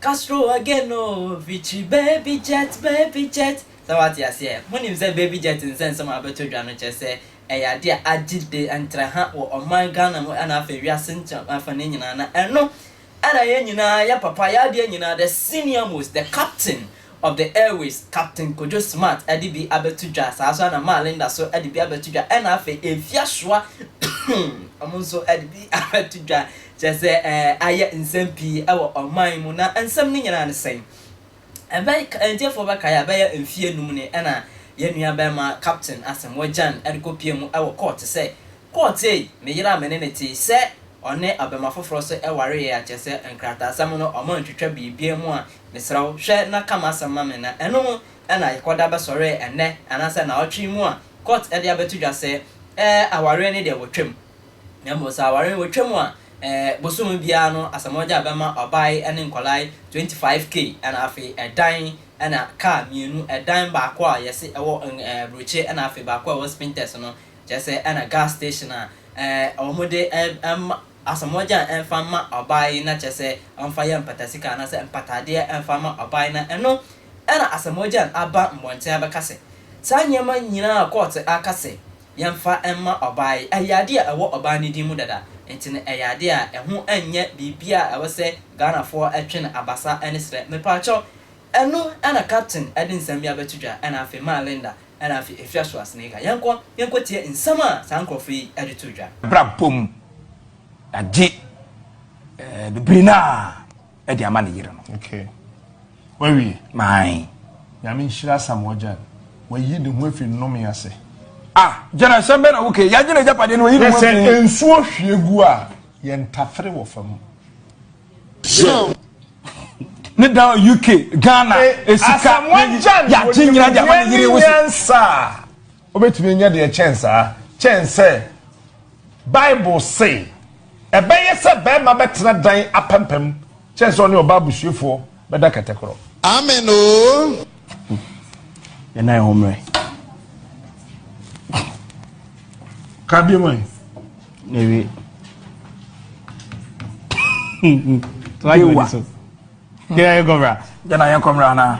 Castro again oh, Victory baby jet, baby jet. Sɛ wate aseɛ, monim sɛ baby jet nsɛ nsɛm a abɛtɔ dwa no kyerɛ sɛ ɛyɛ adeɛ a agye de ntra ha wɔ ɔman Ghana mu ɛna afei wiase ntra afa ne nyinaa na ɛno Ɛna yɛn nyinaa yɛ papa yɛ adeɛ nyinaa the senior most the captain of the airways captain Kojo smart ɛde bi abɛto dwa saa nso ɛna maa Linda so ɛde bi abɛto dwa ɛna afei Efiasoa wɔn nso ɛde bi abɛto dwa kyerɛ sɛ ɛɛ ayɛ nsɛm pii ɛwɔ ɔman mu na nsɛm no nyinaa ne sɛn? Ɛbɛy Atiefoɔ bɛkae a, ɛbɛyɛ mfeɛ nnum ni na yɛn nuabarima Captain Asamoah Gyan de kɔpuee mu wɔ kɔɔte sɛ, Kɔɔte ei, me yere a me ne no te sɛ ɔne ɔbarima foforɔ so wareɛ a kyerɛ sɛ nkrataasɛm no wɔantwitwa biribiara mu a, mesrɛ wo, hwɛ na ka m'asɛm ma me na ɛno na yɛkɔda bɛsɔree ɛnnɛ anaasɛ nnawɔtwe yi mu a kɔɔte de abɛto dwa sɛ, ɛɛ, awareɛ no deɛ wɔtwam. Na mmom sɛ aware no wɔtwam a, ɛɛ bosome biara no Asamoah-Gyaa bɛma ɔbaae ne nkwadaa 25k ɛna afei ɛdan ɛna kaa mmienu, ɛdan baako a yɛse ɛwɔ ɛɛ Brokye ɛna afei baako a ɛwɔ Spintex no, kyerɛ sɛ ɛna gas station a ɛɛ wɔn de ɛɛ mma Asamoah-Gyaa ɛmfa mma ɔbaa yi na kyerɛ sɛ ɔmfa yɛ mpatasika anaasɛ mpataadeɛ ɛmfa mma ɔbaa yi na ɛno ɛna Asamoah-Gyaa aba mmɔnten abɛka sɛ saa nneɛma nyinaa a kɔɔte aka sɛ yɛmfa mma ɔbaa yi. Ɛyɛ adeɛ a ɛwɔ ɔbaa no din mu dada, nti no ɛyɛ adeɛ a ɛho nyɛ biribiara a ɛwɔ sɛ Ghanafoɔ twe no abasa ne serɛ. Mepaakyɛw, ɛno na Captain de nsɛm bi abɛto dwa, ɛna afei maa Linda, ɛna afei Afia so Asenega. Yɛnkɔ, yɛnkɔtie nsɛm a saa nkorɔfoɔ yi de too dwa. Abrabɔ mu, yɛagye bebree no a. ɛde ama ne yere no. Okay. Wawie. Mae. Nyame nhyira Asamoah Gyan. Wayi ne ho afi nnome ase. Ah, gyana nsɛm bɛ na woke. Yɛagye ne agyapadeɛ no wayi ne ho afi. Sɛ nsuo hwie gu a, yɛn tafere wɔ fam. Sure. ne da UK, Ghana, esika, yagye nyina de ama ne yere wosi. Wobɛtumi anya deɛ ɛkyɛn saa, kyɛn sɛ Bible se, Ɛbɛyɛ sɛ barima bɛtena dan apampam kyɛn sɛ ɔne ɔbaa busuefoɔ bɛda kɛtɛ korɔ. Amen oo. Yɛn nan ho mmerɛ. Ka bi mu ɛ. Ewie. Dewa. Yɛn ayɛ kɔmra. Yɛn ayɛ kɔmra naa.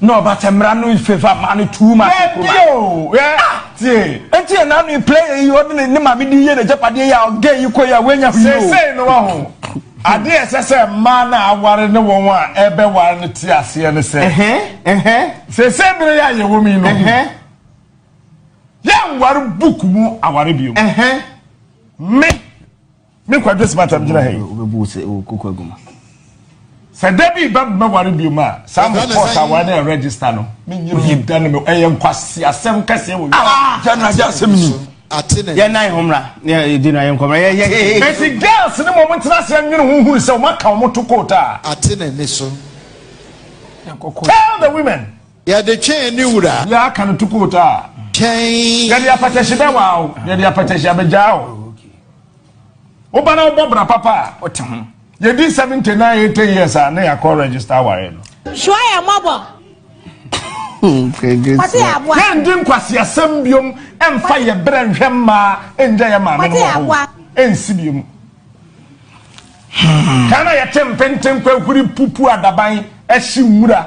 na ɔba sɛ mmara no favour maa no too much nkuruma. Dɛbi o, ɛ tie. Nti yɛ n'ano yi player yi ɔde ne ne maame di yɛ n'agyapadeɛ yi a ɔgɛ yi kɔ yi a wɛnya hwii o. Seesei no wɔ ho. Adeɛ ɛsɛ sɛ mmaa no a aware ne wɔn a ɛbɛware no te aseɛ ne sɛ. Seesei bere yi a yɛwɔ mu yi no. Yɛnware book mu aware bio. Me. Me Kwadwo Smart megyina ha yi. Wobɛbu wo sɛ wokɔ kɔ aguma. Sɛ da bi ba bɛware biom a, saa mo court aware na yɛ register no, menyɛ bi da no me ɛyɛ nkwasi asɛm kɛseɛ wɔ wiase. Ah! Gya no agye asɛm ni. Yɛ nan ho mmra, na yɛ di no ayɛ nkɔmmra. Yɛ yɛ hehe. Eti girls ne mo ɔmo ntena ase ɛnwene ho nhunu sɛ ɔmo aka ɔmo to court a. Ate na ni so. Tell the women. Yɛde twɛn ne wura. Bia aka no tukoot a. Twɛn. Yɛde apɛtɛhye bɛwaa o. Yɛde apɛtɛhye abɛgyaa o. Woba na wobɔ bra papa a. Wote ho. Yɛdi seventy nine eighty years a na yɛakɔ register aware no. Sua yɛ mmɔbɔ. Yɛndi nkwaseasɛm biom ɛmfa yɛ berɛ nhwɛ mmaa ɛngya yɛ maame no wɔ hɔ ɛnsi biom. Ghana yɛte mpenten kwahuri pupu adaban ɛhye nwura.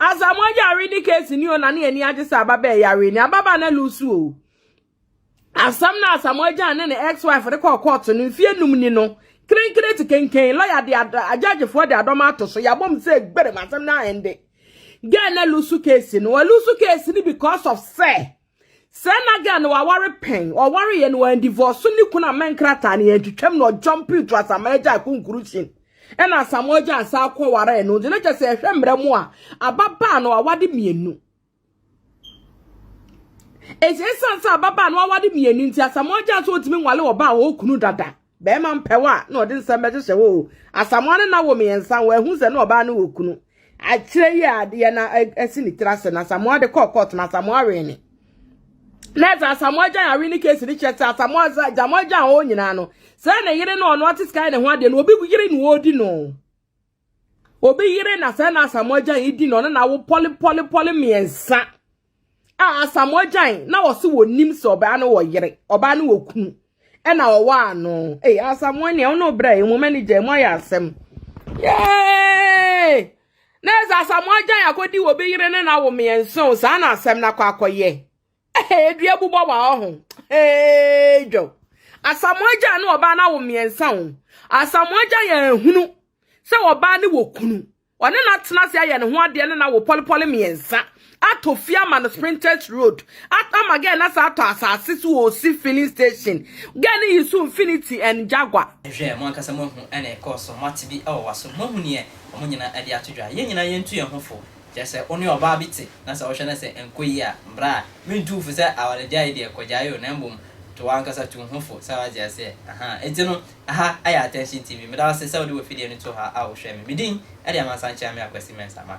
Asamoah yare ne case ni o na ne ani agye sɛ ababaa yare ni ababaa na lusu o asɛm na Asamoah gyan ne ne ex wife de kɔɔ court no mfie num ni no krenkren te kenken lawyer de adjudgefoɔ de adɔm ato so yabom sɛ gberem asɛm na ɛnde gɛn na lusu case no walusu case ni because of sɛ Sɛ na girl no waware pɛn, ɔwareeɛ no wɔandivɔɔso ne kunu amma nkrataa no yɛantwitwam na ɔjɔmpee to Asamoah agya a conclusion ɛna Asamoah agya asan akɔ waree no nti na kyɛ sɛ ɛhwɛ mmerɛ mu a ababaa no awade mmienu ɛsɛ ɛsiane sɛ ababaa no awade mmienu nti Asamoah agya nso ɔtumi nwale ɔbaa hɔ okunu dada Bɛrima mpɛ wo a, na ɔde nsɛm bɛhyehyɛ wo o. Asamoa ne na wɔ mmiɛnsa, wɔahu sɛ na ɔbaa no wɔ kunu. Akyerɛ yi a adeɛ na asi ne tiri ase na Asamoa de kɔɔ kɔɔto na Asamoa wee ne. Na ɛsɛ Asamoa gyan awe ne keesi ne kyerɛ sɛ Asamoa sɛ Asamoa gyan ɔɔ nyinaa no. Sɛ ne yere no ɔno ɔte sika ne ho adeɛ no obi yere na ɔredi no. Obi yere na sɛ na Asamoah Gyan yi di na ɔne na wo pɔle pɔle pɔle mmiɛnsa a Asamoah Gyan na ɔse wɔnim sɛ ɔbaa no wɔ yere ɔbaa no wɔ kunu ɛna ɔwɔ ano ee Asamoah nea ɔne ɔbrɛ yi mo manager mo ayɛ asɛm yee na ɛsɛ Asamoah Gyan akɔdi wɔ bi yere ne na wo mmiɛnsa o saa na asɛm na akɔ akɔyɛ Hey, dua bu bɔ wa ho. Hey, jo. Asamoagya ne ɔbaa na wo mmiɛnsa o. Asamoagya yɛ ehunu sɛ ɔbaa ne wɔ kunu. Ɔne na tena ase ayɛ ne ho adeɛ ne na wɔ pɔlepɔle mmiɛnsa. Atɔ fie ama no Sprinters Road. Ama gɛɛ na sa atɔ asase so wɔ osi filling station. Gɛɛ ne yi so Infinity and Jaguar. Nhwɛ, mo ankasa moahu ɛna ɛkɔɔ so, moate bi wɔ waso, moahu neɛ wɔn nyinaa de ato dwa. Yɛn nyinaa yɛntu yɛn ho fo. Kyerɛ sɛ wo ne ɔbaa bi te na sɛ wohwɛ na sɛ ɛnkɔ yie a, bra a, mentu wo fo sɛ awaregyaeɛ deɛ kɔgyae o, na mmom to w'ankasa tu wo ho fo, sɛ woate aseɛ? Ahaa, enti no, ɛha ayɛ Attention TV. Meda wo ase sɛ wode w'afidie no too ha a wohwɛɛ me. Me din de Amansan Kyeame Akwasi Mensah. Ma.